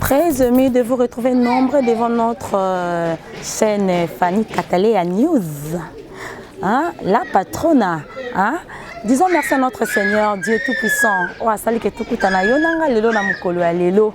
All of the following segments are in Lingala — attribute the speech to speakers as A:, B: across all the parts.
A: Très aimé de vous retrouver nombreux devant notre euh, chaîne Fanny Cataléa News. Hein? La patrona. Hein? Disons merci à notre Seigneur, Dieu Tout-Puissant. Oh, asali ke tukutana yo nanga lelo na mukolo ya lelo.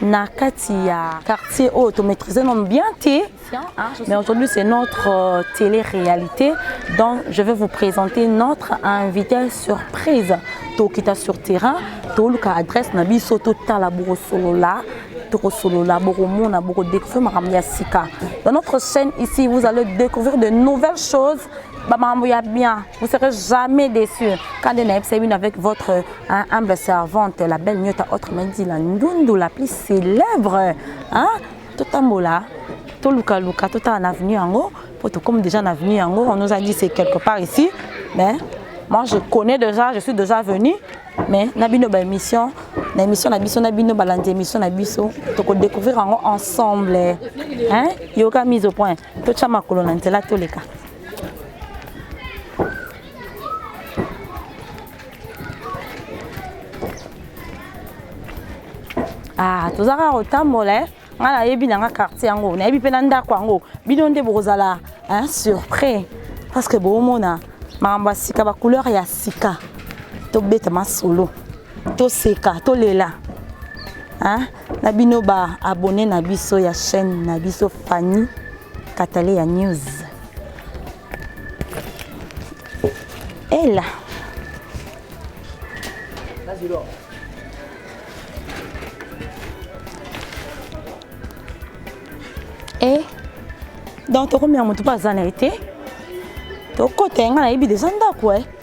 A: na kati ya quartier oyo to maîtriser nom bien te ah, mais aujourd'hui c'est notre euh, télé-réalité donc je vais vous présenter notre invité surprise tokita sur terrain toluka adresse na biso totala bokosolola tokosolola bokomona bokodécouvrir makambo ya sika dans notre chaîne ici vous allez découvrir de nouvelles choses bamakambo ya bien vous serez jamais déçu kande nayebisa bino avec votre Hein, humble servante, la belle nyota autrement dit la ndundu la plus célèbre. Hein? Totambola, toluka luka, tota en avenue yango, pour tout comme déjà en avenue yango, on nous a dit c'est quelque part ici, mais moi je connais déjà, je suis déjà venu, mais na bino ba émission, na émission na biso na bino balandi émission na biso, toko découvrir yango ensemble. Hein? Yoka mise au point. To chama kolona nzela toleka. ah toza kaka kotambola eh. ngai nayebi na nga quartier yango nayebi mpe na ndako yango bino nde bokozala hein, surpris parce que bomona makambo ya sika bacouleur ya sika tobeta masolo toseka tolela hein? na bino baabone na biso ya chaîne na biso fanny katale ya news Ella. Vas-y, Laure. Eh, donc tokomi ya motu mpe aza na ye te tokota ye ngai nayebi deja ndako e eh.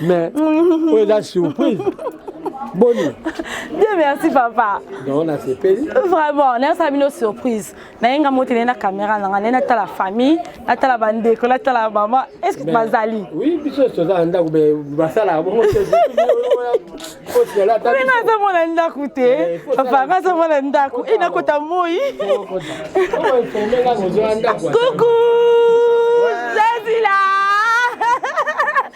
B: mais oyo eza surprise boni bien
A: merci papa donc nasepeli
B: vraiment nayosala bino
A: surprise naye nga moti naye na caméra na nga naye natala famille natala bandeko natala mama est ce que bazali oui biso toza na
B: ndako me basalaka bongo te nazomona ndako te papa nazomona
A: ndako e nakota moi kuku zazila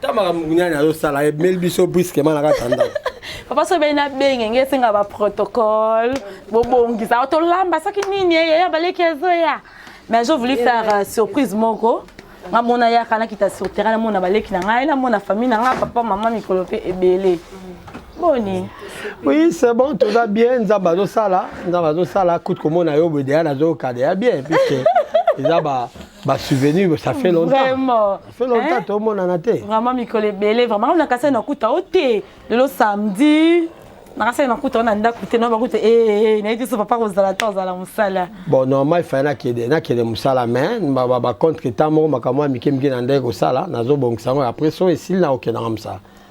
A: ta makambo nani azosala emeli biso brusquement na kati ya ndako papa soki beni nabenge nge esenga baprotocole bobongisa o tolamba soki nini eh, yaya baleki ezoya mais je voulu faire euh, surprise moko nga mona yaka nakita sur terrain namona baleki na ngai namona famille na ngai papa mama mikolo mpe ebele boni oui
B: c'est bon toza bien nzambe azosala nzambe azosala kutu komona yo boye deya nazoyoka deya bien puisque eza ba ba souvenir ça fait longtemps Vraiment. fait longtemps
A: hein? tomonana
B: te vraiment mikolo ebele
A: vraiment na kasai nakuta yo te lelo samedi na kasai nakuta yo na ndako te noyeba kuta ee eh, eh, eh, nayebi so papa kozala te ozala mosala bon normal fai
B: nakende nakende mosala mais bacontre temps moko makambo ya mike mike na ndenge kosala nazobongisa yango après so esili nakokendanga mosala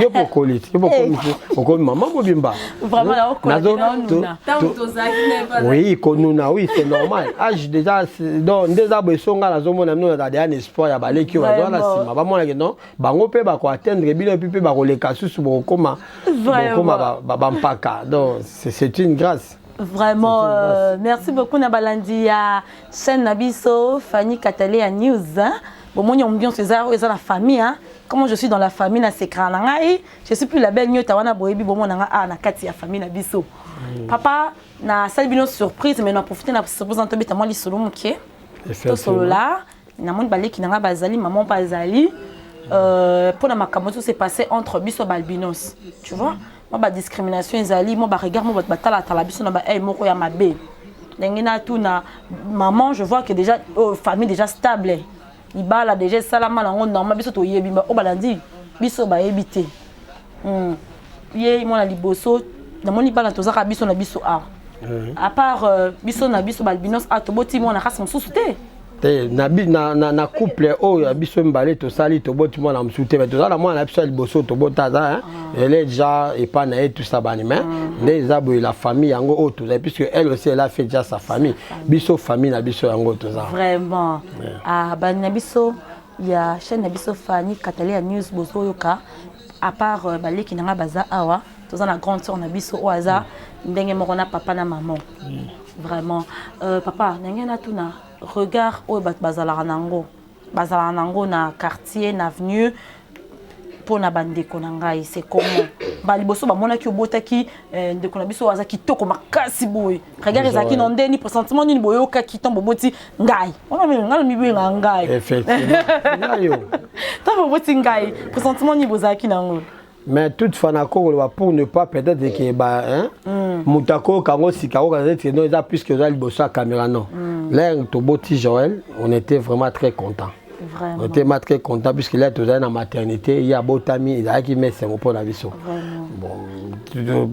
B: yo mpe okoli te yo mpe okomi te eh. okomi mama mobimba
A: oui
B: konuna oui c'est normal age déjà donc nde eza boye songa nazomona bino nazala deya na espoir ya baleki oyo bazala na nsima bamonake non bango mpe bakoatteindre bino epi mpe bakoleka susu bokokoma bampaka donc c'est une grâce vraiment euh,
A: merci beaucoup na balandi ya chaîne na biso fanny katale ya news bomoni ambiance eza eza na famille hein? comme je suis dans la famille na secret na ngai je suis plus la belle nyota wana boyebi bomo na ngai ah na kati ya famille na biso mm. papa na sali bino surprise mais na profiter na surprise na tobeta mwa lisolo moke tosolola namoni baleki na ngai bazali maman mpe azali euh, mpo na makambo tout se passé entre biso balbinos tu vois mwa badiscrimination ezali mwa baregard mwa bato batalatala biso na baai moko ya mabe ndenge natuna maman je vois que déjà oh, famille déjà stable libala deja esalama nango normal biso toyebi oyo balandi biso bayebi te hmm. ye mwana liboso namoni bana tozaka biso na biso awa eh. à part euh, biso na biso balbinos a toboti mwana kasi mosusu te te na, na, na, na couple oyo ya biso mibale tosali toboti mwana mosusu te toza na mwana na biso ya liboso tobota aza ah. ele deja epai na ye tusa bani mai ah. nde eza boye la famille yango oyo tozali puisque elle aussi elle a fait déjà sa famille biso famille na biso yango toza vraiment Ah, bandi na biso ya chaîne na biso Fanny Katalia News bozoyoka à part euh, baleki na ngai baza awa toza na grande sœur na biso oyo aza ndenge moko na papa na maman vraiment euh, papa ndenge natuna regard oyo bato bazalaka na yango bazalaka na yango na quartier na avenue mpona bandeko na ngai se comment mbala liboso bamonaki obotaki eh, ndeko na biso aza kitoko makasi boye regard ezalaki na ndeni presentiment nini boyokaki ntango boboti ngai wana ngai namibenga ngai
B: ntango boboti
A: ngai presentiment nini bozalaki na yango mais toute fois
B: nakokoloba pour ne pas peut-être ke ba hmm. moto akoyoka yango sika akoka neti no eza puisque oza liboso ya caméra non hmm. lere toboti joel on était vraiment très content Vraiment. Ote ma très content puisque là tozali na maternité ye abotami ezalaki ma esengo mpo na biso bon,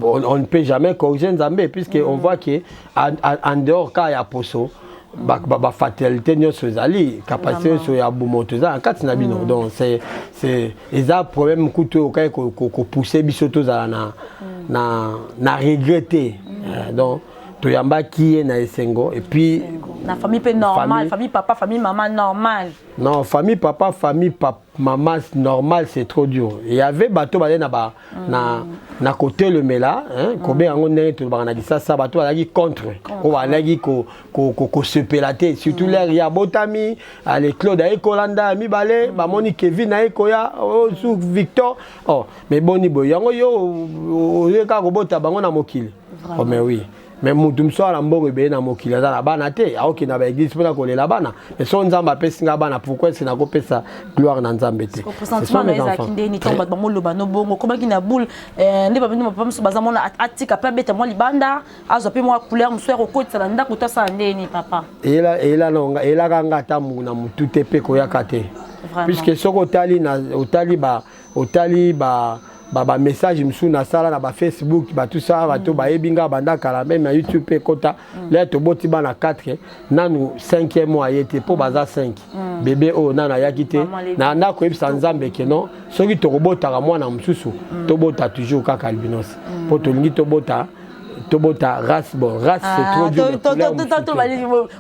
B: on, on ne peut jamais corriger nzambe puisque mm. on voit que en, en dehors ka ya poso bafatalité nyonso ezali kapasité nyonso ya bomoto eza na kati na bino mm. donc eza problème kutu oyo okaki kopousse biso tozala na, mm. na, na regret te mm. euh, donc toyambaki ye na esengo et puis na famille pe
A: normal famille, famille papa famille maman normal non famille
B: papa famille papa maman normal c'est trop dur il y avait bateau balé na ba mm. na na côté le mela hein mm. kobe yango ndenge to bana disa sa bateau alaki contre ko balaki ko ko ko, ko se pelater surtout mm. l'air ya botami allez Claude ay kolanda mi balé mm. ba moni Kevin ay koya oh, sous Victor oh mais boni boy yango yo oyeka ko bota bango na mokili oh, mais oui mais mutu mosusu awa na mbongo ebele na mokili aza na bana te aokenda ba église mpona kolela bana mais so nzambe apesi nga bana pourquoi ese nakopesa gloire na nzambe te sentiment na ezalaki
A: nde nini ntango bato bamoloba no bongo okomaki na boule eh, nde babino bapapa mosusu baza mona atika mpe abeta mwa libanda azwa mpe mwa couleur mosusu ya kokotisa na ndako to asala nde nini papa
B: elaka nga ata na motu te mpe koyaka te puisque soki otali otali ba otali ba ba ba message mosusu nasala na ba facebook bato sa bato mm. bayebi nga banda kala meme na youtube mpe ekota mm. lea toboti bana 4 nanu 5e mois aye te mpo mm. baza 5 bebe oyo nanu ayaki te na nda koyebisa nzambe ke non soki tokobotaka mwana mosusu tobota toujours kaka albinos mpo tolingi tobota tobota race bon race c'est ah, trop dur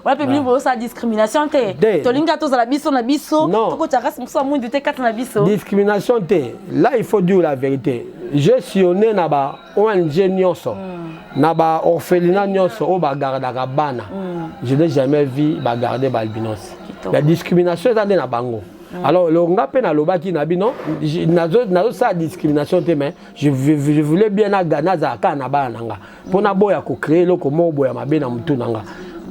A: wana mpe bilingi bozosala discrimination te tolingi kaka tozala biso na biso tokotya race mosusu ya
B: mwindu
A: te
B: kati
A: na biso discrimination te là
B: il faut
A: dire
B: la
A: vérité je
B: sillonne na ba ong nyonso hmm. na ba orphelina nyonso oyo bagardaka bana hmm. je n'ai jamais vu bagarde baalbinos la discrimination eza nde na bango hmm. alors longa mpe nalobaki na bino nazosala discrimination te mais je, je, je voulais bien naga nazala kaka na bana na nga mpo naboya kocree eloko moko boya mabe na motu na nga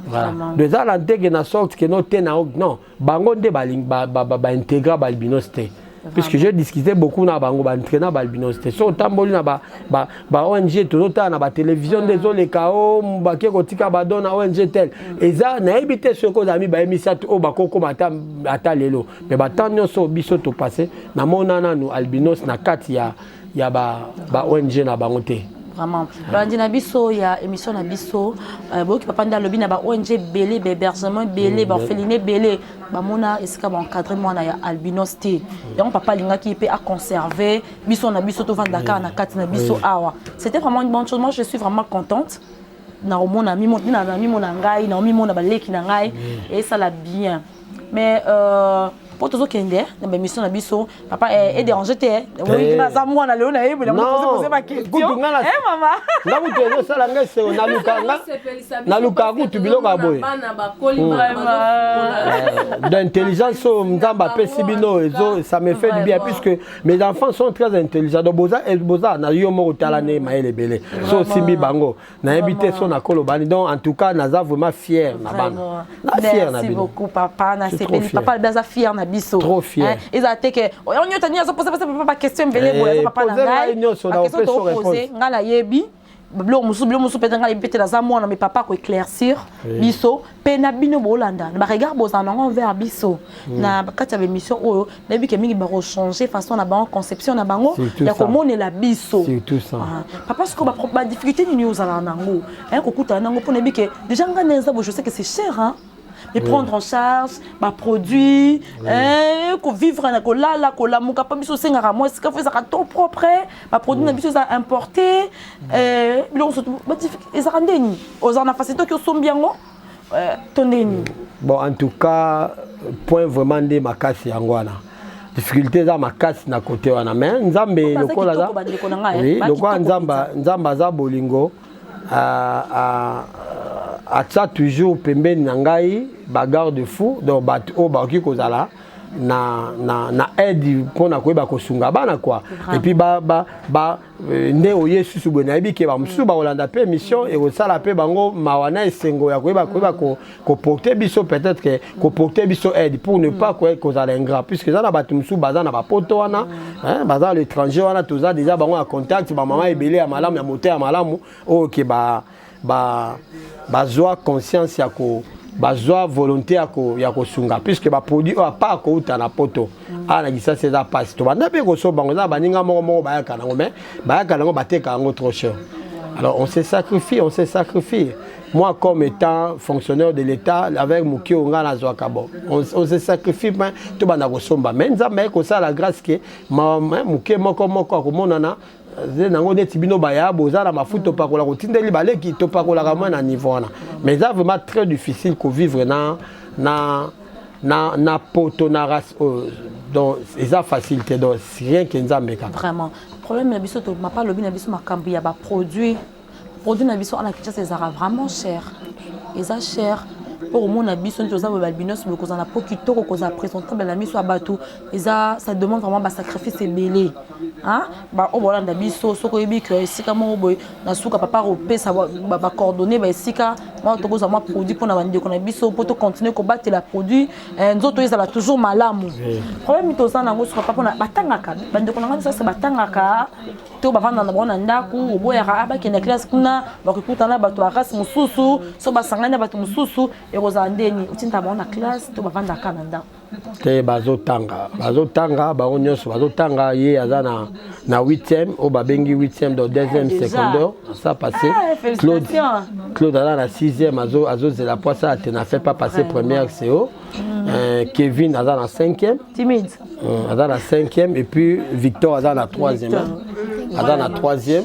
B: voilà donc eza na nteke na sorte ke no te na non bango nde baintegra balbinos te puisque j'ai discuté beaucoup na bango baentraina balbinos te so otamboli na baong tozotala na batelevizio nde ezoleka o bake kotika badon na ong tel eza nayebi te soki ozala mibaye misato oyo bakokoma ata lelo mais ba temps nyonso biso to passe na mona nanu albinos na kati ya ya ba ba ONG na bango te vraiment balandi
A: na biso ya émission na biso euh, boyoki papa nde alobi na ba ong ebele bahébergement ebele mm, baorpheline ebele bamona esika baencadre mwana ya albinos te yango papa alingaki mpe aconserve biso na biso tovanda kaka na kati na biso awa c'était vraiment une bonne chose moi je suis vraiment contente nakomona mimona ngai naomimona baleki na ngai mm. esala bien mais euh, po tozokende na baémission na biso papa eh, edérange te eh. eh. naza mwana lelo nayebela mopoze baquestionnga kutu ezosala
B: ngai seo nalukaka kutu biloko ya boye d'intelligence oyo nzambe apesi bino ça me fait du bien puisque mes enfants sont très intelligents donc boza na yo moko tala nde mayele ebele so osimbi bango nayebi te so nakoloba ni donc en tout cas naza vraiment fier na bana na fier na bino beaucoup
A: papa na sepeli papa alobi aza fier na biso trop fier ezala te
B: ke oyo
A: nyota nini azoposa posa papa ba question ebele eh, boye papa na ngai ba question tokopose ngai nayebi biloko mosusu biloko mosusu mpenza ngai nayebi mpe te naza mwana me papa akoeclaircir biso mpe na bino bolanda na baregard bozala nango envers biso mm. na kati ya baémission oyo nayebi ke mingi bakochange façon na bango conception na bango ya komonela biso ah.
B: papa sikoyo
A: badifficulté nini oyo ozalaka nango aye kokutana nango mpo nayebi ke déjà ngai na eza bojose ke c'est cher hein? et prendre en charge baproduit eh, kovivre na kolala kolamuka mpo biso osengaka mwasi kafo ezalaka to propre ba produit na biso eza importe eh, biloko nso ezaka nde nini ozala na fasito ki osombi yango eh, to nde nini bon en
B: tout cas point vraiment nde makasi yango wana difficulté eza makasi na kote wana mais nzambe lokola aza lokola nzambe nzambe aza bolingo atia toujours pembeni na ngai ba garde fou donc bato oyo bakoki kozala na, na, na aide mpo na koyeba kosunga bana kua epuis ba, ba, ba, euh, nde oye susu boye nayebi ke bamosusu bakolanda mpe mission ekosala mpe bango mawa na esengo ya koyeba koyeba ko, ko porter biso peut-être que ko porter biso aide pour ne pas quoi cause à ingrat puisque ça na batu musu baza na ba poto wana hein baza l'étranger wana toza déjà bango en contact ba maman ebele ya malamu ya moteur ya malamu OK ba ba bazwa conscience ya ko bazwa volonté ya ko ya kosunga puisque ba produit oyo apart kouta na poto awa na kisasi eza mpasi tobanda mpe kosoba yango eza na baninga moko moko bayaka nango mais bayaka nango bateka yango trop cher alors on se sacrifie on se sacrifie Moi, comme étant fonctionnaire de l'État, avec Moukio Onga Nazwaka, bon, on, on se sacrifie, mais tout le monde somba. Mais nous avons comme ça la grâce que Moukio Moko Moko, comme on en a, nango neti bino baya boza na mafuta opakola kotindeli baleki topakolaka mwa na niveau wana mais eza vraiment très difficile kovivre na na na, na poto na race oyo donc eza facile te donc rien ke nzambe kaka vraiment problème na
A: biso to mapa lobi na biso makambo ya baproduit Produit na biso ana Kinshasa ezalaka vraiment cher. Eza cher mpo komona biso neti oza boye balbinos boye kozala na mpo kitoko kozala présentable na miso ya bato eza ça demande vraiment basacrifice ebele baoyo baolanda biso soki oyebi ke esika moko boye na suka papa akopesa bacoordonne baesika mwa tokozwa mwa produit mpo na bandeko na biso mpo tocontinue kobatela produit eh, nzoto ezala toujours malamu problème toza na yango suka papa batangaka bandeko na ngai biso batangaka to bavanda na bango na ndako oboyaka ah, bakenda classe kuna bakikuta na bato ya race mosusu so basangani na bato mosusu ekozala ndeni otinda bango na classe to bavandaka na ndako te bazotanga
B: bazotanga bango nyonso bazotanga ye aza na na 8e oyo babengi 8e do 2e ah, secondaire ça passé ah, claude claude aza na 6e azozela poisa ate na fait pas passé première co Euh, Kevin aza na 5e. Timide. Euh,
A: aza na
B: 5e et puis Victor aza na 3e. Aza na 3e.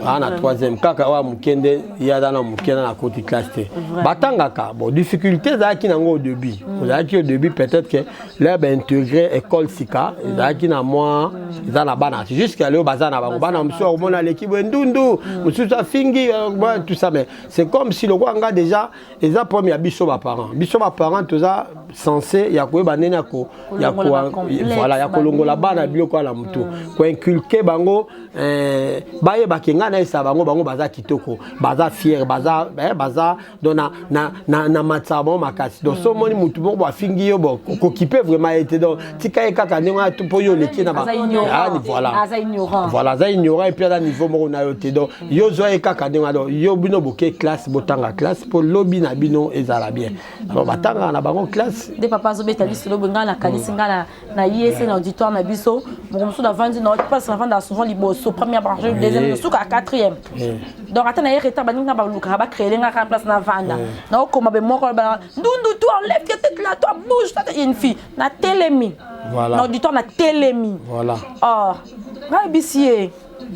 B: aa na troisième kaka oyo moke nde ye aza na moke na na koti classe te batangaka bon difficulté ezalaki nango au début ozalaki mm. au début peut-être que lea baintegre école sika mm. ezalaki na mwa mm. eza na bana jusqu'à leo baza na bango bana mosusu akomona aleki boye ndundu mosusu afingi euh, tout ça mais c'est comme si lokola nga déjà eza problème ya biso ba parents biso ba parents toza censé ya koyeba ndenge ya ko ya ko voilà ya kolongola bana biloko ya lamutu mm. ko inculquer bango euh, bayeba ke ngai nayesa bango bango baza kitoko baza fier baza eh, baza donc na na na, na matisa bango makasi donc mm. so omoni mutu moko afingi yo bon kokipe vraiment ye te donc tika ye kaka ndenge wana tu mpo yo oleki na ba Aza ignorant. Ah, ni voilà Aza ignorant. voilà aza ignorant epuis aza niveau moko na yo te donc yo zwa ye kaka ndenge wana donc yo bino boke classe botanga classe mpo lobi na bino ezala bien donc batangaka na bango classe nde papa azobeta biso
A: lobo ngai nakanisi ngai na- na ye se na auditoire na biso moko mosusu navandi na place navandaka souvent liboso première branche deuxième Eh. suka quatrième Eh. donc ata na ye retard baningi nga balukaka bacreele nga kaka place navanda naokoma be moko ba- ndundu toi enlève tes têtes là toi bouge toi, t'es une fille na telemi voilà. na auditoire na
B: telemi
A: voilà. oh.
B: nayebisi
A: ye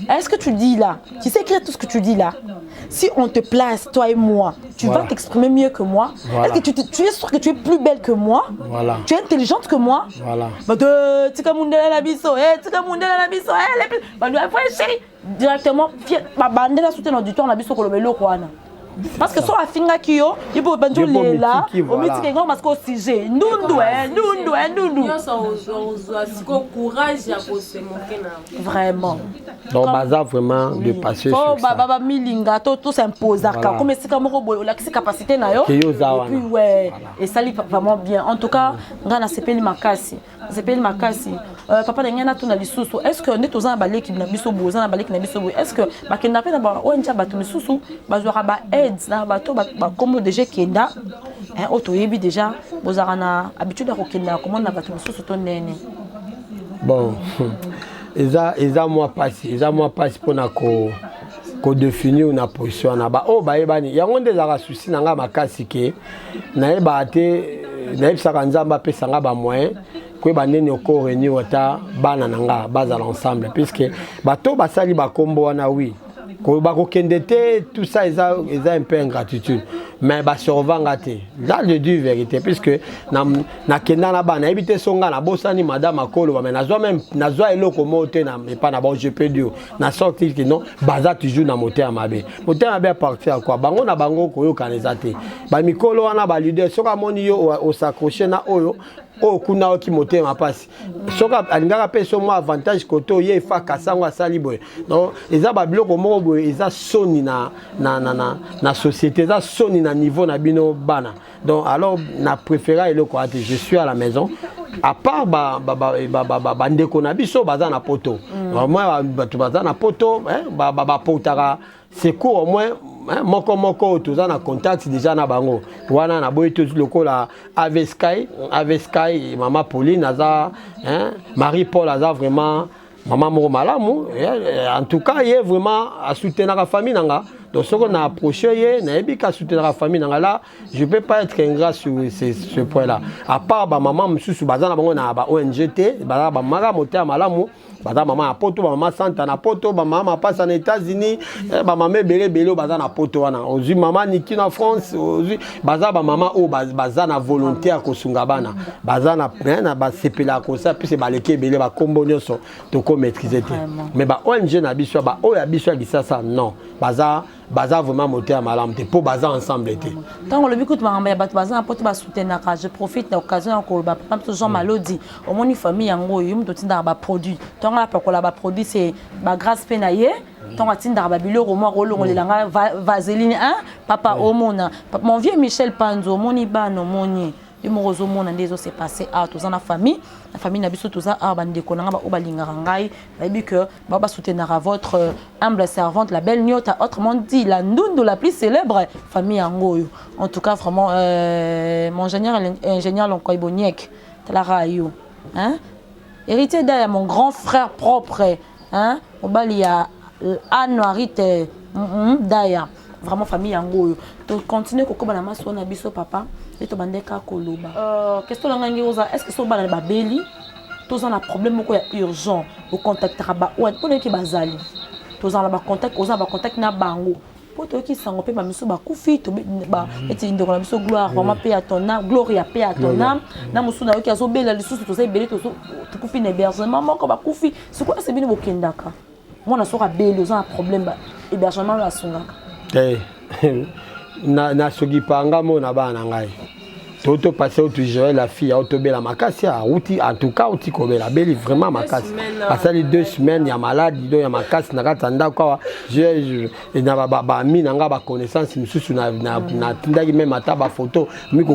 A: est-ce que tu dis là tu sais écrire tout ce que tu dis là si on te place toi et moi tu voilà. vas t'exprimer mieux que moi voilà. est-ce que tu, tu, es sûr que tu es plus belle que moi voilà. tu es intelligente que moi voilà. tika mundela na biso eh, tika mundela na biso eh, les... bah, chérie directement babandela soute na auditoire na biso koloba eloko wana parce que so afingaki yo ipo obandi olela omitiki yango masika o sujet ndundu e ndundu e ndundu vraiment donc baza
B: vraiment de passé sur ça ba milinga to
A: to s'imposaka comme esika moko boye olakisi capacité na yo et puis ouais esali vraiment bien en tout cas nga na sepeli makasi nasepeli makasi euh, papa na ngai natuna lisusu est ce que nde toza na baleki na biso boye oza na baleki na biso boye est ce que bakendaka mpe na ba ong ya bato misusu bazwaka ba aides na bato bakombo deja ekenda eh, oyo toyebi deja bozalaka na habitude ya kokenda komona na bato mosusu to ndene bon
B: eza eza mwa mpasi eza mwa mpasi mpona ko kodefinir na position wana baoyo oh, bayebani yango nde ezalaka susi na ngai makasi ke nayebaka te nayebisaka nzambe apesa nga bamoyen koyeba ndeni oko reunir ata bana na nga bazala ensemble puisque bato basali bakombo wana wi bakokende te tout ça eza, eza un peu ingratitude mais basurva nga te là je dis vérité puisque nakenda na bana nayebi te so nga nabosani madame akoloba mais nazwa meme nazwa eloko moko te epai na bango je peux dire na sorti que non baza toujours na motema mabe motema mabe apartir ya quoi bango na bango koyokana eza te bamikolo wana balider soki amoni yo osacroche na oyo oyo kuna oki motema mpasi soki alingaka mpe so mwa avantage kote oye efa kasi yango asali boye donc eza babiloko moko boye eza soni na, na, na, na, na société eza soni na niveau na bino bana donc alors na préféra eloko wana te je suis à la maison à part bandeko na biso baza na poto mm. moi bato baza na poto bapotaka secours au moins moko moko oyo toza na contact déjà na bango wana naboyi tozi lokola avesky avesky mama pauline aza marie paul aza vraiment mama moko malamu eh, en tout cas ye vraiment asoutenaka famille na nga donc soko na approche ye nayebi ka asoutenaka famille na nga la je peux pas être ingrat sur ce, ce point là à part bamama mosusu baza na bango na ba ong te baza bamaka moteya malamu baza mama ya poto bamama santa na poto bamama mapasa na états-unis eh, bamama ebele ebele oyo baza na poto wana ozwi mama niki na france ozwi baza bamama oyo baza na volonté ya kosunga bana baza na eh, na basepelaka kosa puise baleki ebele bakombo nyonso toko maîtrise te mais ba ong na biso ba oyo ya biso ya kisasa non baza baza vraiment moto ya malamu te mpo baza ensemble te ntango olobi kutu makambo
A: ya bato baza na poto basoutenaka je profite na occasion ya koloba papa biso jean mm. malodi omoni famille yango oyo yo moto otindaka baproduit ntongo apakola baproduit se bagrace mpe na ye ntango atindaka babiloko moko olongolela nga vaseline hein papa omona mon vieux michel panzo omoni bana omoni yo moko ozomona nde ezo se passe awa toza na famille na famille na biso toza awa bandeko na ngai baoyo balingaka ngai bayebi que bao basoutenaka votre euh, humble servante la belle niota autrement dit la ndundu la plus célèbre famille yango oyo en tout cas vraiment euh, mon ingénieur ingénieur lonkoy boniek talaka yo hein Heritier Daya mon grand frère propre hein mobali ya Anuarite mm -mm, Daya vraiment famille yango oyo to continuer kokoba na maso na biso papa et to bande ka koloba euh, question na ngai oza est-ce que so bana babeli toza na problème moko ya urgent ocontactaka baoyo mpo nayoki bazali tozala na bacontact oza na bacontact na bango po toyoki sango pe ba misu bakufi ba mhm. eti ndeko na biso gloire eh vraiment pe à ton âme gloria pe à ton âme na mosusu nayoki azobela lisusu toza ebele tokufi na hébergement moko bakufi sikoyo ese bino bokendaka mwana soki abeli oza na problème hébergement oyo asungaka te eh,
B: na soki panga mona bana ngai toto pase otu joel afi ya otobela makasi auti en tout cas auti kobela abeli vraiment makasi asali deux semaines ya maladi do ya makasi na kati ya ndako awa na bami na ngai baconnaissance mosusu natindaki meme ata bafoto mi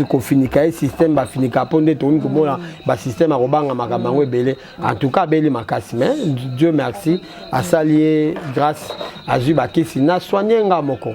B: kofinika ye système bafinika mpo nde tokomi komona basystème akobanga makambo yango ebele en tout cas abeli makasi mais dieu merci asali ye grâce azwi bakisi na soigne nga moko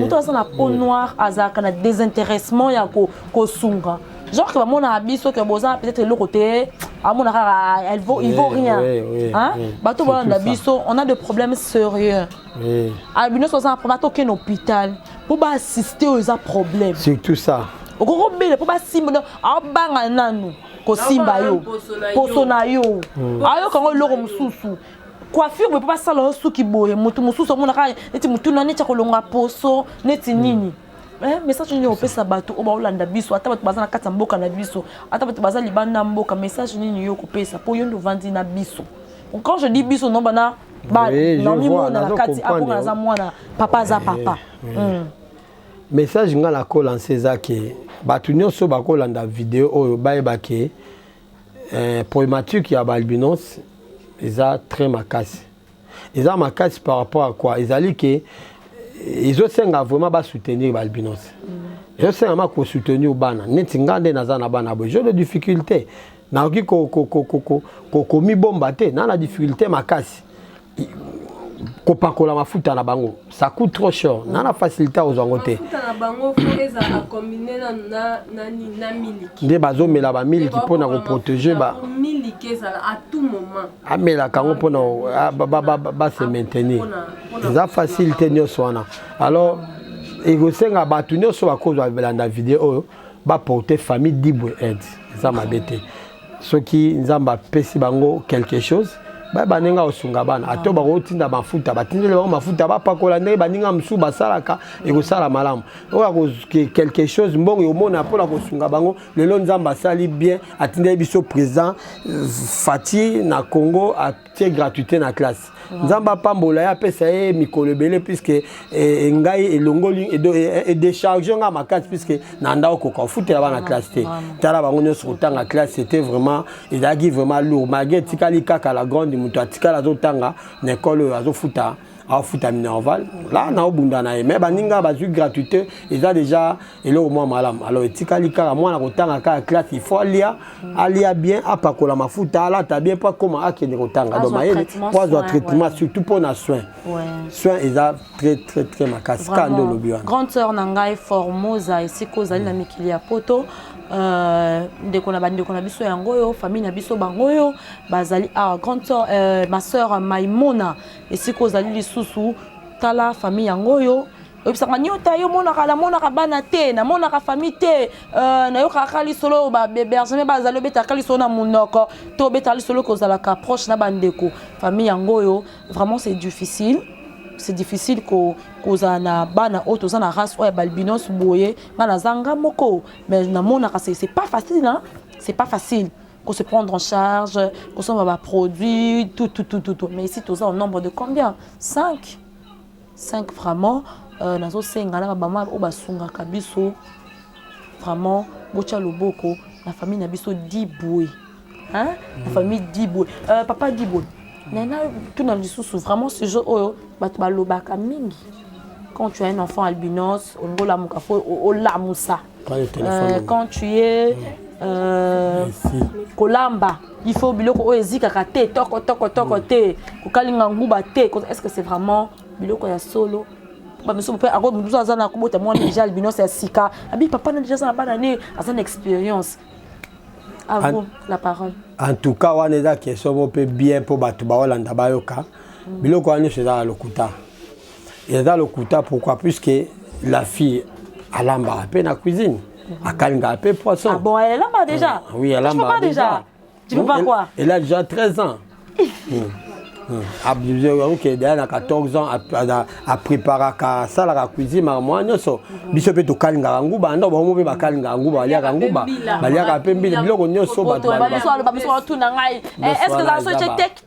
A: moto aza na peau noire azalaka na désintéressement ya kosunga genre ke bamonaka biso ke boza peut-être eloko te amona kaka elle vaut il vaut rien hein bato bolanda biso on a des problèmes sérieux albino soza na problème atokende hôpital mpo baassiste oyo eza problème surtout ça
B: okoki kobele mpo
A: basimba donc aobanga nanu kosimba yo poso na yo ayoka yango eloko mosusu coiffure boye mpo basala yo suki boye moto mosusu amonaka neti motuna neti akolonga poso neti hmm. nini eh, message nini okopesa bato oyo baolanda biso ata bato baza na kati ya mboka na biso ata bato baza libanda ya mboka message nini yo okopesa mpo yo nde ovandi na biso quand je dis biso nomba na bamimona na kati akonga naza mwana papa aza eh, papa hmm.
B: message ngai nakolansa eza ke bato nyonso bakolanda video oyo bayeba ke Eh, problématique ya ba albinos eza très makasi. Eza makasi par rapport à quoi? Ezali que eh, ezosenga vraiment ba soutenir ba albinos. Mm. Ezosenga ma ko soutenir bana. Neti nga nde naza na bana boye. J'ai des difficultés. Nakoki ko ko ko ko ko komibomba te, na na difficulté makasi. kopakola mafuta na bango ça coûte trop cher mm. na na facilité ozwa yango te
C: nde bazomela bamiliki
B: mpo na koprotege
C: amelaka yango mpo na
B: base maintenir eza facile te nyonso wana alors ekosenga bato nyonso bakozwa belanda video oyo baporte famille dibwe aide eza mabe te soki nzambe apesi bango quelque chose baye baninga kosunga bana ato ah. bakotinda mafuta batindeli bango mafuta bapakola ndenge baninga mosusu basalaka ekosala malamu oyo quelque chose mbongo ekomona mpona kosunga bango lelo nzambe asali bien atindeli biso président euh, fati na congo tie gratuité na classe nzambe apambola ye apesa ye mikolo ebele puiske eh, eh, ngai elongoli edecharge eh, ngai makasi puiske na nda okoka ofutela bana classe te tala bango nyonso kotanga classe ete vraiment ezalaki vraiment lourd malgré etikali kaka la grande moto atikali azotanga na ekole oyo azofuta afuta minerval la naobunda na ye mais baninga bazwi gratuité eza déjà eloko mwa malamu alors etikali kaka mwana kotanga kaka classe il faut alia alia bien apakola mafuta alata bien mpo akoma akende kotanga donc mayele mpo azwa traitement surtout mpo na soin soin eza très très très makasi kaka nde olobi wana grande sœur na ngai
A: formosa esika ozali na mikili ya poto Euh, ndeko na bandeko na biso yango oyo famille na biso bango oyo bazali awa ah, grande soeur euh, ma soeur maimona esika ozali lisusu tala famille yango oyo oyebisaka niota yo monaka namonaka bana te namonaka famille te euh, nayokaka kaka lisolo oyo babergeme bazali obetaka kaka lisolo na monoko to obetaka lisolo kozalaka approche na bandeko famille yango oyo vraiment c'est difficile c'est difficile ko kozala na bana oyo toza na race oyo ya balbinos boye nga naza nga moko mais namonaka c'est pas facile hein? c'est pas facile ko se prendre en charge, ko somba ba produits, tout, tout, tout, tout, tout. Mais ici, tous en nombre de combien 5 5 vraiment, euh, nazo senga na ba mama o basunga kabiso. Vraiment, bocha loboko, la famille na biso diboué. Hein? La famille diboué. Euh, papa diboué. Nana, tout na lisusu vraiment ce jeu oyo bato balobaka mingi quand tu as un enfant albinos olingi olamuka fo olamusa euh, quand tu es euh, kolamba il faut biloko oyo ezikaka te toko toko toko mm. te kokalinga nguba te est ce que c'est vraiment biloko ya solo bamisusu mpe ako mosusu aza na kobota mwana deja albinos ya sika abi papa na deja aza na bana ne aza na expérience à vous la parole en tout cas wana
B: eza question moko mpe bien mpo bato baolanda bayoka mm. biloko wana nyonso eza na lokuta eza lokuta pourquoi puisque la fille alambaka mpe na cuisine akalingaka mpe poisson ah bon elle alamba déjà
A: ah, oui alambaka déjà
B: tu peux pas quoi
A: elle a déjà 13 ans
B: abuse oke deya na 14 ans apreparaka asalaka cuisine maka mwa nyonso biso mpe tokalingaka nguba anda bango mpe bakalingaka nguba baliaka nguba baliaka mpe mbila biloko nyonso bato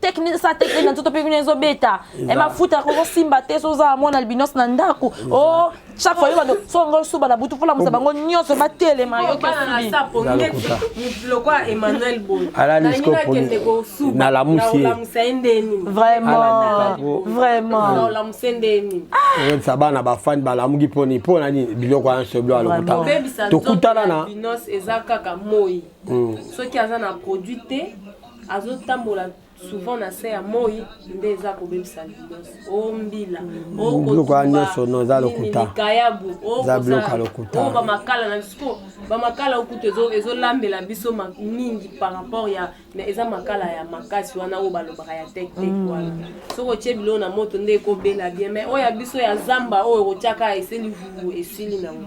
A: teknise sa teknise na nzoto mpe bino ezobeta e mafuta yango ozosimba te so ozala mwana albinos na ndako o oh, chaque fois yo bando so yango osuba na butu folamusa bango nyonso batelema
B: yokiovraimenta bana bafani balamuki mponi mpo na nini biloko ya nso bilo alokuta tokutana na soki
C: aza na produit te azo tambola souvent na se ya moi nde eza kobebisa libos o oh, mbila mm. oh, biloko ya nyonso no
B: eza lokuta likayabu oh, eza
C: biloko ya lokuta
B: o bamakala na biso
C: bamakala okutu ezolambela biso mingi par rapport ya mais eza makala ya makasi wana oyo balobaka ya tektek mm. wana soki otye biloko na moto nde ekobela bien mais oyo ya biso ya zamba oyo okotyaka eseli vuvu esili nango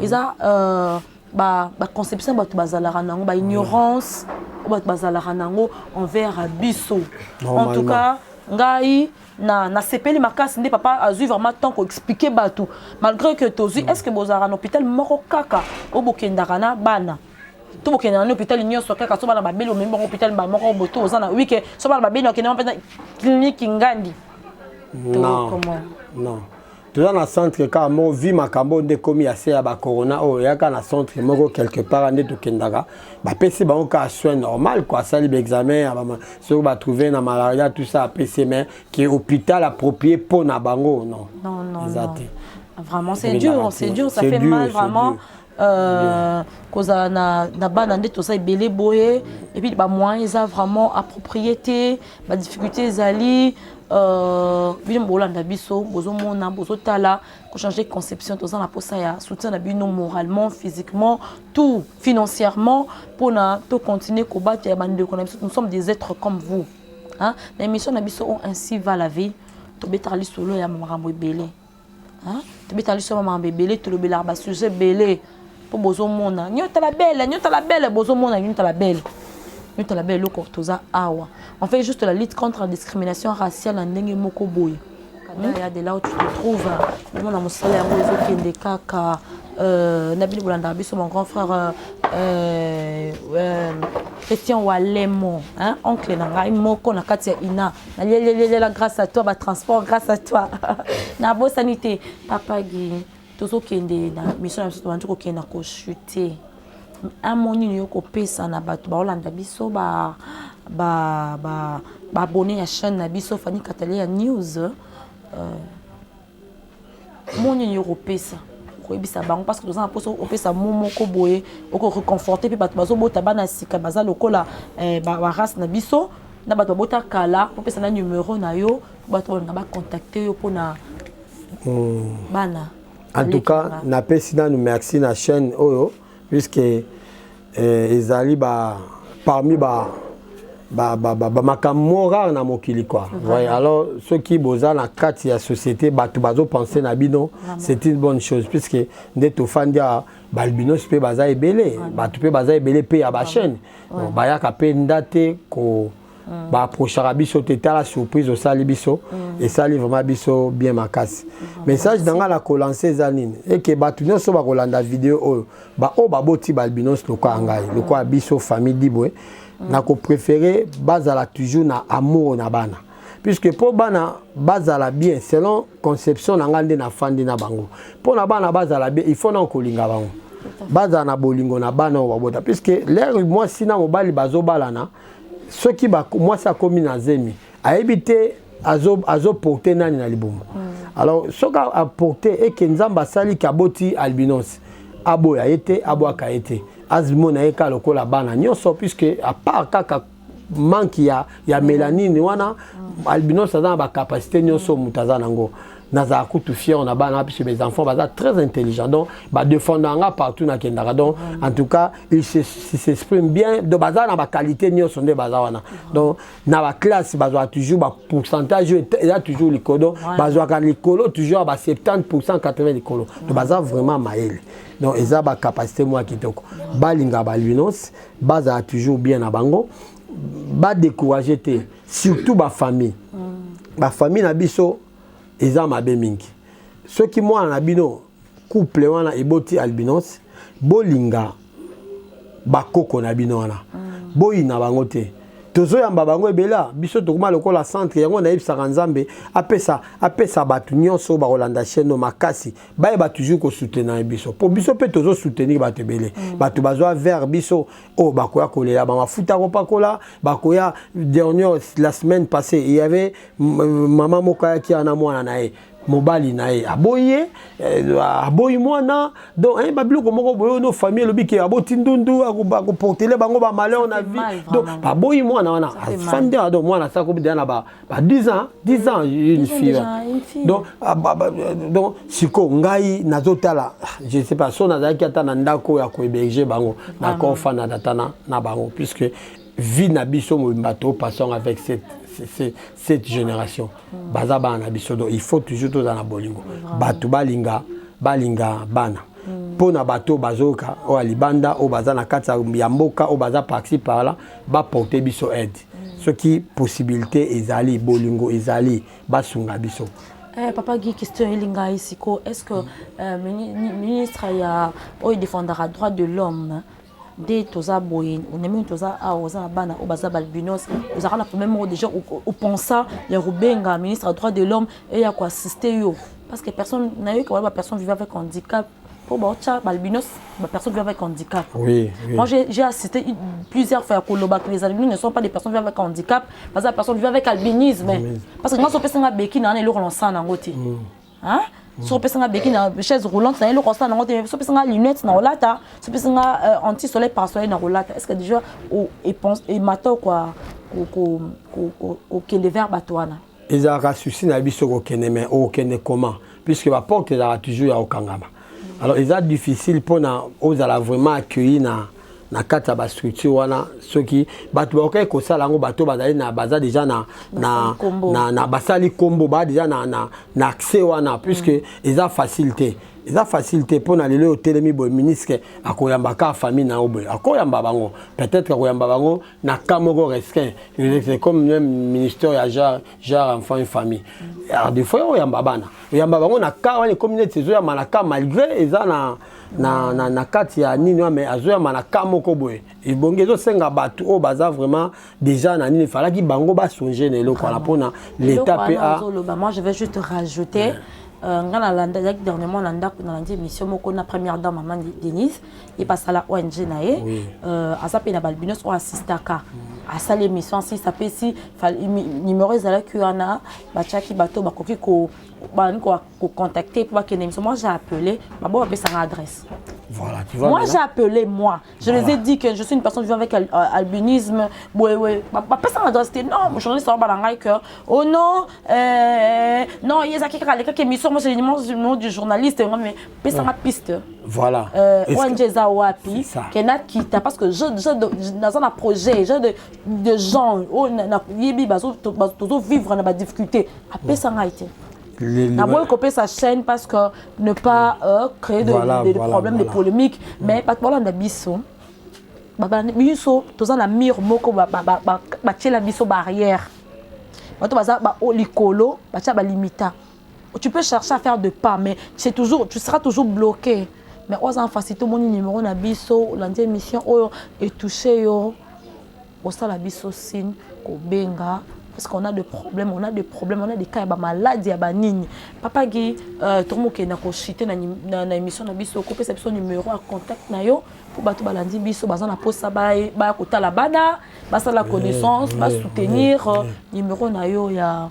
A: eza euh, ba ba conception bato bazalaka nango ba ignorance oyo bato bazalaka nango envers biso en tout cas ngai na nasepeli makasi nde papa azwi vraiment temps koexplike bato malgré que tozwi est ce que bozalaka na hôpital moko kaka oyo bokendaka na bana to bokende na hôpital nyonso kaka so bana babeli omemi bango hôpital mbala moko boye to oza na wike so bana babeli okende mpenza kliniki ngandi non
B: non toza na centre kaka moko vi makambo oyo nde ekomi ya se ya bacorona oyo yaka na centre moko quelque part nde tokendaka bapesi bango kaka soin normal kua asali baexamen ya soki batrouve na malaria tout ça apesi mais ke hôpital approprie mpo na bango non eza te
A: vraiment c'est dur c'est dur ça fait mal vraiment Euh, kozala na, na bana nde toza ebele boye epuis bamoyen eza vraiment approprié te badifficulté ezali euh, bino bolanda biso bozomona bozotala kochange conception toza na mposa ya soutien na bino moralement physiquement tout financièrement mpona tocontinue kobatela bandeko na biso nous sommes des êtres comme vous hein? na émission na biso o oh, ainsi va la vie tobetaka lisolo ya makambo ebele tobeta liso ba mambe ebele tolobelaka ba sujet ebele mpo bozomona nyota la belle nyota la belle bozomona nyota la belle nyota la belle eloko toza awa en fait juste la lutte contre la discrimination raciale na ndenge moko boye kadaya de là où tu te trouves omona mosala yango ezokende kaka euh, na bino bolandaka biso mon grand frère euh, euh, euh, christian walemo hein, oncle na ngai moko na kati ya ina nalelelelala grâce à toi batransport grâce à toi nabosani te papa gi tozokende na mission na biso tobandi kokende na kochute amo nini yo kopesa na bato baolanda biso ba ba ba baabonne ya chaîne na biso fani katale ya news euh, Mot nini okopesa? Okoyebisa bango parce que toza na poso opesa mot moko boye oko reconforter pe bato bazobota bana sika baza lokola eh, ba, ba race na biso na bato babota kala opesa na numero na yo po bato balinga bacontacte yo mpona mm. bana en tout
B: cas napesi nanu merci na chaîne oyo puisque Eh, ezali ba parmi ba ba ba ba, ba makambo rare na mokili quoi. Voilà. Voyez, alors ceux qui boza na kati ya société bato bazo penser na bino, c'est une bonne chose puisque nde tofandi ya balbinos pe baza ebele, bato pe baza ebele pe ya ba chaîne. Bayaka pe ndate ko Mm. ba approchaka biso te tala surprise osali biso mm. esali vraiment biso bien makasi mm. message na ngai na kolanse eza nini eke bato nyonso bakolanda video oyo baoyo baboti baalbinos lokola ngai lokola biso famille dibwe na koprefere bazala toujours na amour na bana puisque mpo bana bazala bien selon conception na ngai nde nafandi na bango mpo na bana bazala bien il faut na kolinga bango bazala na bolingo na bana oyo babota puisque lere mwasi na mobali bazobalana soki mwasi akomi na zemi ayebi te azoporte azo nani na libumu mm. alors soki aporte eke nzambe asali ke aboti albinos aboya ye te abwaka ye te azimona ye kaka lokola bana nyonso puisque apart kaka manque ya, ya melanine wana mm. albinos aza na bacapacité nyonso moto aza nango nazala kutu fier na bana puisque mes enfants baza très intelligent donc badefenda nga partout nakendaka donc en tout cas il s'exprime bien donc baza na baqualité nyonso nde baza wana donc na baklasse bazwaka toujours bapourcentage oyo eza toujours likolo bazwaka likolo toujours ya ba 70 pourcent 80 likolo donc baza vraiment mayele donc eza bacapacité mwa kitoko balinga balunos bazala toujours bien na bango badécourage te surtout bafamille bafamille na biso eza mabe mingi soki mwana na bino couple wana eboti albinos bolinga bakoko na bino wana mm. boyina bango te tozoyamba bango ebela biso tokoma lokola centre yango nayebisaka nzambe apesa apesa bato nyonso bakolanda chaine makasi bayeba toujours kosoutenir biso mpo biso mpe tozosoutenir bato ebele mm. bato bazwa vers biso oyo oh, bakoya kolela bamafuta kopakola bakoya dernier la semaine passée il y avait mama moko ayaki wana mwana na ye mobali na ye aboyi ye eh, aboyi mwana donc eh, babiloko moko boye no famille elobi ke aboti ndundu akoportele bango bamalheur na vie donc baboyi mwana wana afandi awa donc mwana asakobi deya na ba 10 ans 10 ans une fille donc ah, donc sikoyo ngai nazotala je sais pas so nazalaki ata na ndako ya kohéberge bango nakofanada ata na bango puisque vie na biso mobimba to passons avec cette, cette, cette génération mm. baza bana na biso donc il faut toujours tozala na bolingo bato balinga balinga bana mm. mpo na bato oyo bazoyoka oyo ya libanda oyo baza na kati ya mboka oyo baza parci parla baporte biso aide mm. soki possibilité ezali bolingo ezali basunga biso Eh, papa Guy,
A: question elinga ici, est-ce que euh, ministre ya oyo défendra droit de l'homme nde toza boye onemini toza awa oza na bana oyo baza balbinos ozalaka na problème moko déjà opensa ya kobenga ministre ya droit de l'homme eya koassiste yo parce que personne nayoki wana bapersonne vive avec handicap mpo baotya balbinos bapersonne vive avec handicap oui, oui. moi
B: j'ai assisté
A: plusieurs fois ya koloba que les albinos ne sont pas des personnes vive avec handicap baza bapersonne vive avec albinisme parce que ngai sopesanga beki na wana eloko na osala nango te mm. hein so opesa nga beki na chaise roulante na eloko asala nango te so opesa nga lunette na kolata so opesa nga euh, anti soleil par soleil na kolata est ce que déjà emata okwa kokende vers bato wana ezalaka souci
B: na biso kokende mais okokende comment puisque baporte ezalaka toujours ya kokangama alors eza difficile mpona ozala vraiment accueilli na na kati ya bastructure wana soki bato bakokaki kosala yango bato bazali na baza deja na, na, na, na basali nkombo baa deja na, na, na accès wana puisque mm. eza facile te eza facile te mpo na lelo oyo otelemi boye ministre akoyamba kaka famille na yo boye akoyamba bango peut-être akoyamba bango na cas moko restreint comme même ministère ya genre genre enfant et famille alors des fois oyamba bana oyamba bango na cas wana ekomi neti ezoyamba na cas malgré eza na na, na, na kati ya nini wana mais azoyamba na cas moko boye ebongi ezosenga bato oyo baza vraiment déjà na nini efalaki bango basonge na eloko wana mpona l'état mpe a moi je vais juste
A: rajouter euh, ngai nalandaki dernièrement na ndako nalandi émission moko na première dame mama denise ye mpe asala ong na ye euh, aza mpe na balbinos oyo asistaka mm. asali émission asisa mpe si numero ezalaki wana batyaki bato bakoki bani kocontacte mpo bakende émission moi j'ai appelé babo bapesanga adresse Voilà, tu vois, moi,
B: j'ai appelé, moi.
A: Je voilà. les ai dit que je suis une personne vivant avec al euh, albinisme. Ouais, ouais. Ma personne a dit non, mon journaliste a dit que oh non, euh, non, il y a quelqu'un qui a mis sur moi, c'est le nom du journaliste. Mais pesanga hmm. piste voilà euh,
B: ong eza
A: wapi ke nakita parce que naza na projet genre de, de gens oyo nayebi tozovivre na badifficulté apesa ngai te naboyi kopesa chaîne parce que ne pas euh, créer de, voilà, de, de voilà, problème voilà. de polémique hmm. mais bato balanda biso biso toza na mur moko batiela biso barrière bato baza likolo batya balimita tu peux chercher à faire de pas mais c'est toujours tu seras toujours bloqué mais oza en face tout mon numéro na biso olandi émission oyo et toucher yo osala biso signe kobenga parce qu'on a des problèmes, on a des problèmes, on a des cas, bah, malade, ya bah, nini. Papa Guy, euh, tout le monde qui est dans na, na émission, na biso, coupé sa biso numéro, à contact na yo, pour bato balandi biso, baza na posa ba, ba kota la bana, basa la connaissance, ba soutenir, euh, numéro na yo ya.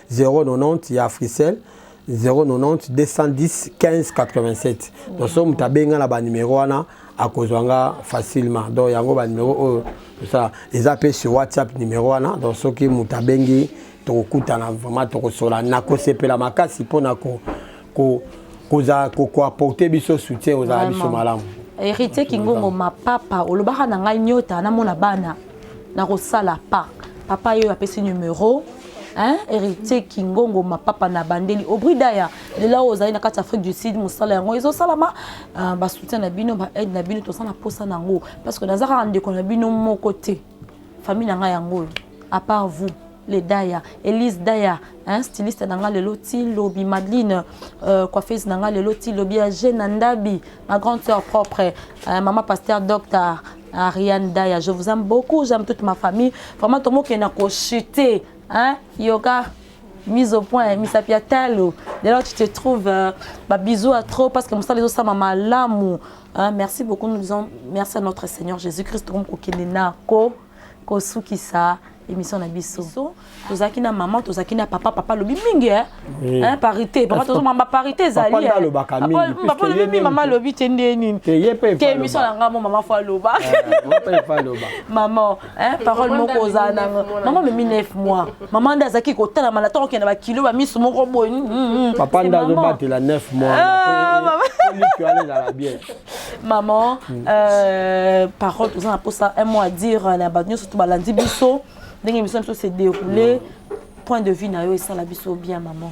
B: 090 ya Africell 090 210 15 87 donc soki moto abenga na banimero wana akozwa nga facilement donc yango banimero oyo tosala eza mpe sur whatsapp nimero wana donc soki moto abengi tokokutana vraiment tokosola nakosepela makasi mpo na ko ko koza ko ko apporter biso soutien ozala biso malamu héritier kingongo
A: ma papa olobaka na ngai nyota na mona bana na kosala pa papa yo apesi numero hein héritier kingongo ma papa na bandeli aubri daya lela oyo ozali na kati afrique du sud mosala yango ezosalama euh, basoutien na bino baaide na bino toza na mposa na yango parce que naza kaka ndeko na bino moko te Famille na nga yango oyo à part vous les Daya, Elise Daya, hein, styliste na nga lelo ti lobi, Madeline euh, coiffeuse na nga lelo ti lobi, Jeune Ndabi, ma grande sœur propre, euh, maman pasteur docteur Ariane Daya, je vous aime beaucoup, j'aime toute ma famille. Vraiment tomo ke na ko chuter, hein, yoga mise au point misapi ya talo dès lors tu te trouves euh, ba bisous à trop parce que mosala ezosama malamu Ah, merci beaucoup. Nous disons merci à notre Seigneur Jésus-Christ. Comme kokende na ko kosukisa émission na biso. Tozaki na maman, tozaki na papa, papa lobi mingi hein. Oui. Hein parité, papa tozo mamba parité ezali. Papa na loba ka mingi.
B: Papa lobi mingi maman
A: lobi tende nini. Te yepe. Te émission na ngamo maman fa loba. Maman fa loba. Maman Eh, parole moko ozala nango mama memi 9 mois mama nde azalaki kotalama na ntango kende bakilo bamiso moko boye mm, mm, mm. papa nde
B: azobatela 9 mois ah, alezala bien
A: maman euh, parole toza na mposa un mot à dire euh, na bato nyonso to balandi biso ndenge émission biso se déroule point de vue na yo esala biso bien maman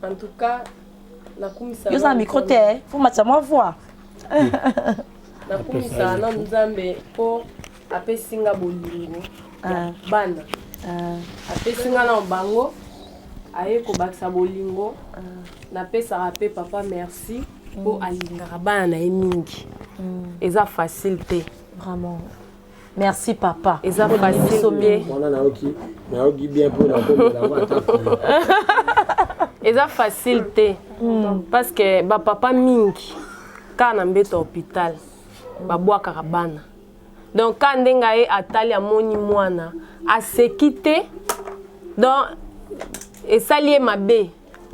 A: En
C: tout cas, nakumisa yo za micro te eh.
A: faut matisa mwa voix
C: nakumisa na nzambe mpo apesi nga bolingo ya ah. bana ah. apesi nga na bango aye kobakisa bolingo ah. napesaka mpe papa merci mpo mm. alingaka bana na ye mingi mm. eza facile te vraiment
A: Merci papa. Eza facile te.
C: Mwana nayoki nayoki bien mpo nakomela yango ata eza facile te hmm. parce que bapapa mingi kaka na mbeto ya hôpital babwakaka bana donc kaka ndenge aye atali amoni mwana aseki te donc esali ye mabe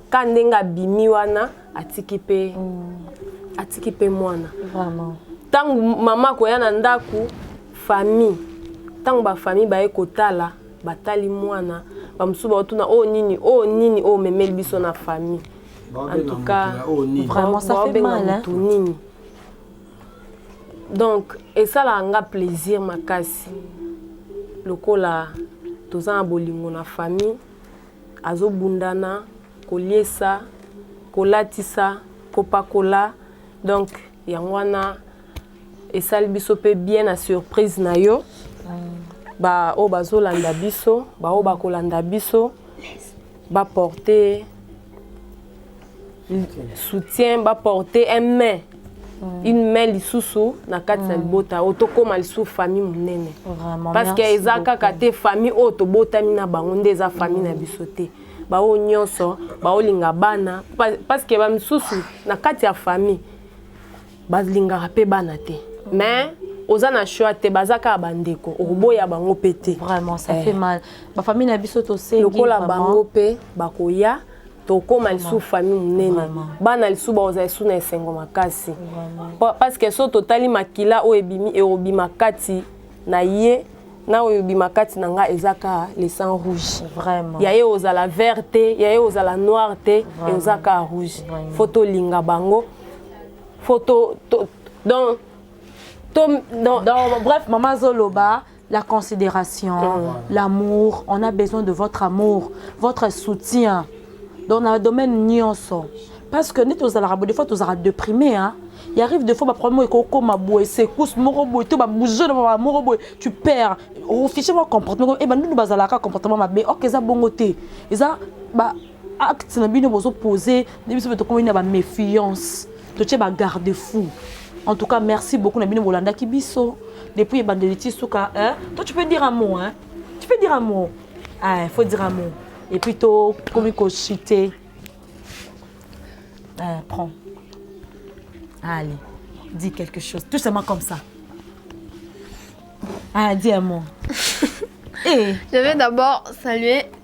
C: ka ndenge abimi wana atiki pe mm. atiki pe mwana vraiment
A: tangu mama
C: akoya na ndako famille tangu ba famille baye kotala batali mwana bamosusu baotuna oyo oh, nini oyo oh, nini oyo oh, omemeli biso na famille en tout cas vraiment ça fait
A: mal hein nini
C: donc esalaka nga plaisir makasi lokola toza na bolingo na famille Azo bunda na koliesa, kolatisa, kopakola donc yango wana esali biso pe bien na surprise na yo. Ba oyo bazo landa biso, ba oyo bako landa biso ba porter soutien ba porter un main Mm. une main lisusu na kati na mm. libota oyo tokóma lisusu famille monene parce que eza kaka te famille oyo tobotami na bango nde eza famille na mm. biso te baoyo nyonso baolinga bana parce que bamisusu na kati ya famille balingaka pe bana te mais oza na choix te baza kaka bandeko okoboya bango mpe te vraiment ça eh. fait mal
A: bafamille na biso tosengi lokola bango mpe
C: bakoya tokóma lisusu famille monene bana lisusu bakozala lisusu na esengo makasi parce que so totali makila oyo ebimi ekobima kati na ye na oyo ebima kati na ngai eza kaka le sang rouge vraiment ya ye
A: ozala vert
C: te ya ye ozala noir te eza kaka rouge fo tolinga bango faut to, to donc to donc, donc bref mama azoloba
A: la considération mmh. l'amour on a besoin de votre amour votre soutien donc na domaine nyonso parce que neti ozalaka bo des fois tozalaka déprimé hein il arrive des fois baproblème ekokoma boye secousse moko boye to babouge na baba moko boye tu perds ofiche mwa comportement ebandunu bazalaka comportement mabe ok eza bongo te eza ba acte na bino bozo pose nde biso mpe tokomi na baméfiance totie bagarde fou en tout cas merci beaucoup na bino bolandaki biso depuis ebandeli ti suka toi tu peux dire un mot hein? tu peux dire un mot ah, faut dire un mot et puis tokomi kochite euh, prends allez dis quelque chose tout simplement comme ça ah, dis un mot et... Eh.
D: je vais d'abord saluer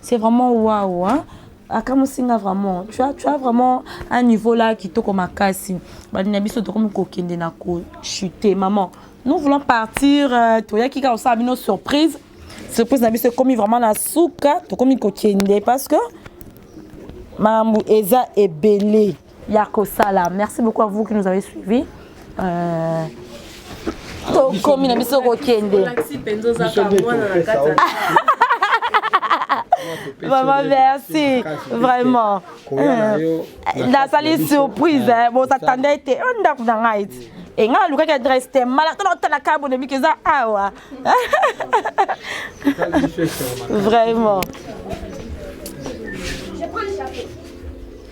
A: C'est vraiment waouh hein? akamwisi nga vraiment tu as, tu as vraiment un niveau là kitoko makasi bandi na biso tokomi kokende na kochute maman nous voulons partir euh, toyaki kaka kosala bino surprise surprise na biso ekomi vraiment na suka tokomi kokende parce que makambo eza ebele ya kosala merci beaucoup à vous qui nous avez suivi euh... tokomi na biso kokende Maman, merci. Vraiment. nasali euh, surprise eh, bozatanda ete o oh, ndako na ngai ti e ngai nalukaki adresse te mala tala otala kaka bonemiki eza awa vraiment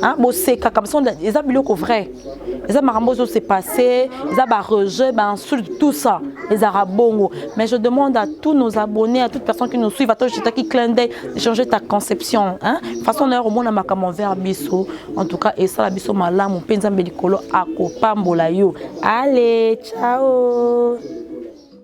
A: Hein, boseka comme ça eza biloko vrai eza makambo ozo se passer eza ba rejet ba insulte tout ça ezaka bongo mais je demande à tous nos abonnés à toute personne qui nous suivent ato jetaki clin d'œil changer ta conception hein façon na yo komona makambo envers biso en tout cas esala biso malamu mpe nzambe likolo akopambola yo allez ciao